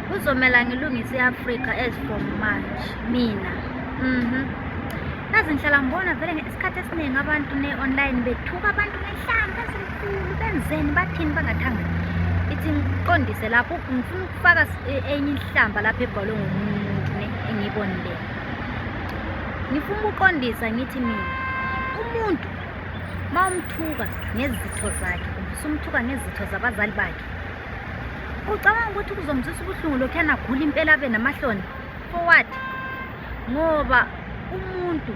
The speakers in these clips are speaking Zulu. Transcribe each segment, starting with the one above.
kuzomela ngilungise i-afrika as from march mina mhm kazi ngihlala ngibona vele isikhathi esiningi abantu ne-online bethuka abantu ngenhlanga ezinkulu benzeni bathini bangathangani ithi ngiqondise lapho ngifuna ukufaka e, enye ihlamba lapho ebhalwe ngomuntu ne engiyibonile ngifuna ukuqondisa ngithi mina umuntu uma umthuka ngezitho zakhe umfisa umthuka ngezitho zabazali bakhe ucabanga ukuthi kuzomzisa ubuhlungu lokhu yanagula impela abe namahloni forward ngoba umuntu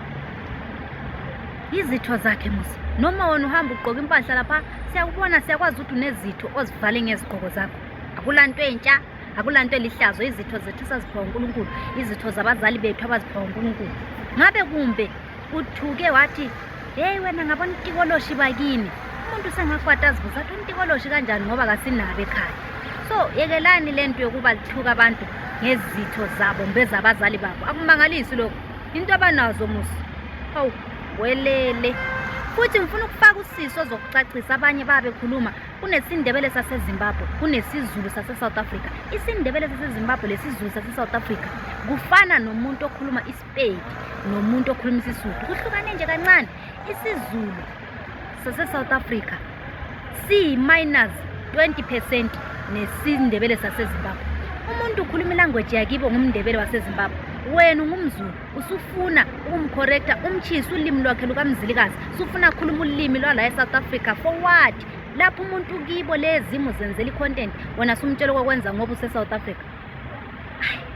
izitho zakhe musa noma wona uhamba ugqoka impahla lapha siyakubona siyakwazi ukuthi unezitho ozivale ngezigqoko zakho akula nto entsha akula nto elihlazo izitho zethu esaziphiwa unkulunkulu izitho zabazali bethu abaziphiwa unkulunkulu ngabe kumbe uthuke wathi heyi wena ngabona itikoloshi bakini umuntu sengakwata azibuza athi untikoloshi kanjani ngoba kasinabe ekhaya so yekelani le nto yokuba lithuka abantu ngezitho zabo mbezabazali babo akumangalisi lokho into abanazo musa hawu welele futhi ngifuna ukufaka usiso zokucacisa abanye babekhuluma kunesindebele sasezimbabwe kunesizulu sasesouth africa isindebele sasezimbabwe lesizulu sasesouth africa kufana nomuntu okhuluma Peki nomuntu okhuluma isiSuthu kuhlukane nje kancane isiZulu sase-South Africa siyi-minus 20 percent nesiNdebele saseZimbabwe umuntu ukhuluma ilanguage yakibo ngumNdebele waseZimbabwe wena ungumzulu usufuna ukumkhorektha umtshisi ulimi lwakhe lukamzilikazi usufuna khuluma ulimi lwala e-south africa for what lapho umuntu kibo lezimo zenzela i-content wena sumtshela okwakwenza ngoba use-south africa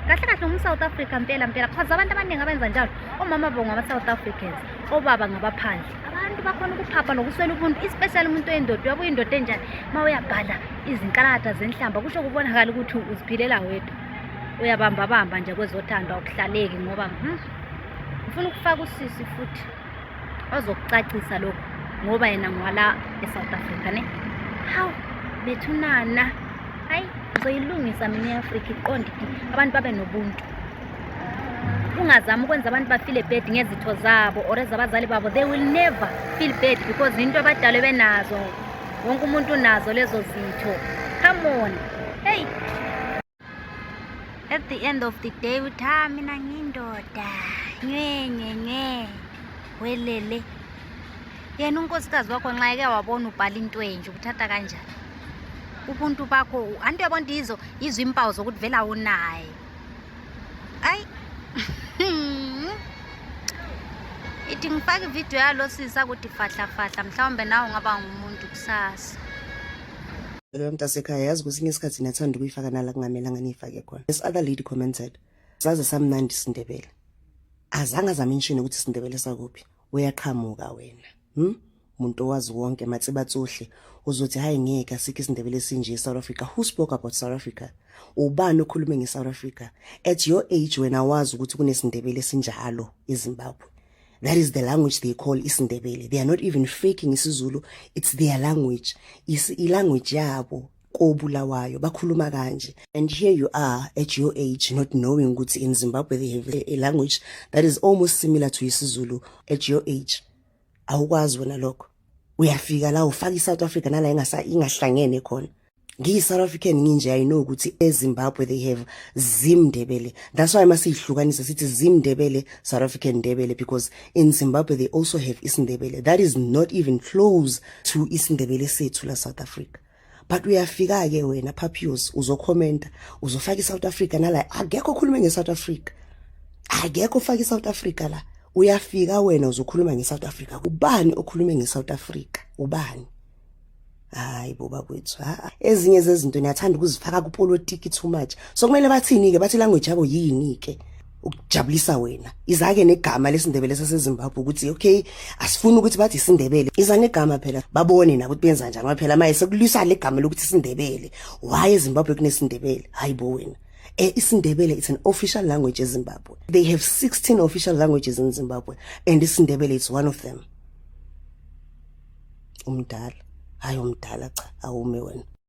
kahle kahle ngumsouth africa mpela mpela cause abantu abaningi abenza njalo omama bo ngaba-south africans obaba ngabaphandle abantu bakhona ukuphapha nokuswela ubuntu especially umuntu oyindoda uyabuya indoda enjani uma uyabhala izinkalakatha zenhlamba kusho kubonakala ukuthi uziphilela wedwa uyabambabamba nje kwezothandwa ukuhlaleki ngoba hmm, ngifuna ukufaka usisi futhi ozokucacisa lokhu ngoba yena ngwala e-south africa ne hawu bethunana hayi ngizoyilungisa mina i-afrika iqonde abantu babe nobuntu ungazami ukwenza abantu bafile bad ngezitho zabo or ezabazali babo they will never feel bad because into abadalwe benazo wonke umuntu unazo lezo zitho come on heyi at the end of the day uthi ha ah, mina ngindoda nywenyenye welele yena unkosikazi wakho nxa eke wabona ubhala into enje ukuthatha kanjani ubuntu bakho anti uyabona ukuthi yizo yizo impawu zokuthi vele awunaye ayi ithi ngifake ividiyo yalo sisa kuthi fahlafahla mhlawumbe nawe ungaba ngumuntu kusasa Lo mntasekhaya yazi kwesinye isikhathi nathanda ukuyifaka nala kungamelanga niyifake khona. This other lady commented, saze samnandi isindebele. Azange azamenshini ukuthi isindebele sakuphi. Uyaqhamuka wena. Hmm? Muntu owazi wonke matsibatsuhle uzothi hayi ngeke asikho isindebele esinje eSouth Africa. Who spoke about South Africa? Ubani okhulume ngeSouth Africa? At your age wena wazi ukuthi kunesindebele esinjalo eZimbabwe. That is the language they call isiNdebele. They are not even faking isiZulu. It's their language. It's language yabo kobulawayo bakhuluma kanje and here you are at your age not knowing ukuthi in Zimbabwe they have a language that is almost similar to isiZulu at your age awukwazi wena lokho uyafika la ufaka iSouth Africa nala ingasa ingahlangene khona ngiyi South African nginje i know ukuthi eZimbabwe they have Zimndebele that's why masihlukanisa sithi Zimndebele South African Ndebele because in Zimbabwe they also have isiNdebele that is not even close to isiNdebele sethu la South Africa but uyafika ke wena Papios uzokhomenta uzofaka iSouth Africa nala akekho okhuluma ngeSouth Africa akekho ofaka iSouth Africa la uyafika wena uzokhuluma ngeSouth Africa ubani okhuluma ngeSouth Africa ubani hayi bo bakwethu ha ezinye zezinto niyathanda ukuzifaka kupolitiki too much so kumele bathini-ke bathi language yabo yini-ke ukujabulisa wena izake negama lesindebele sasezimbabwe ukuthi okay asifuni ukuthi bathi isindebele iza negama phela babone nabo ukuthi benza njani phela maye sekulwisa le gama lokuthi isindebele why ezimbabwe kunesindebele hayi bo wena eh, isindebele it's an official language ezimbabwe they have 16 official languages in zimbabwe and isindebele is one of them umdala hayi umdala cha awume wena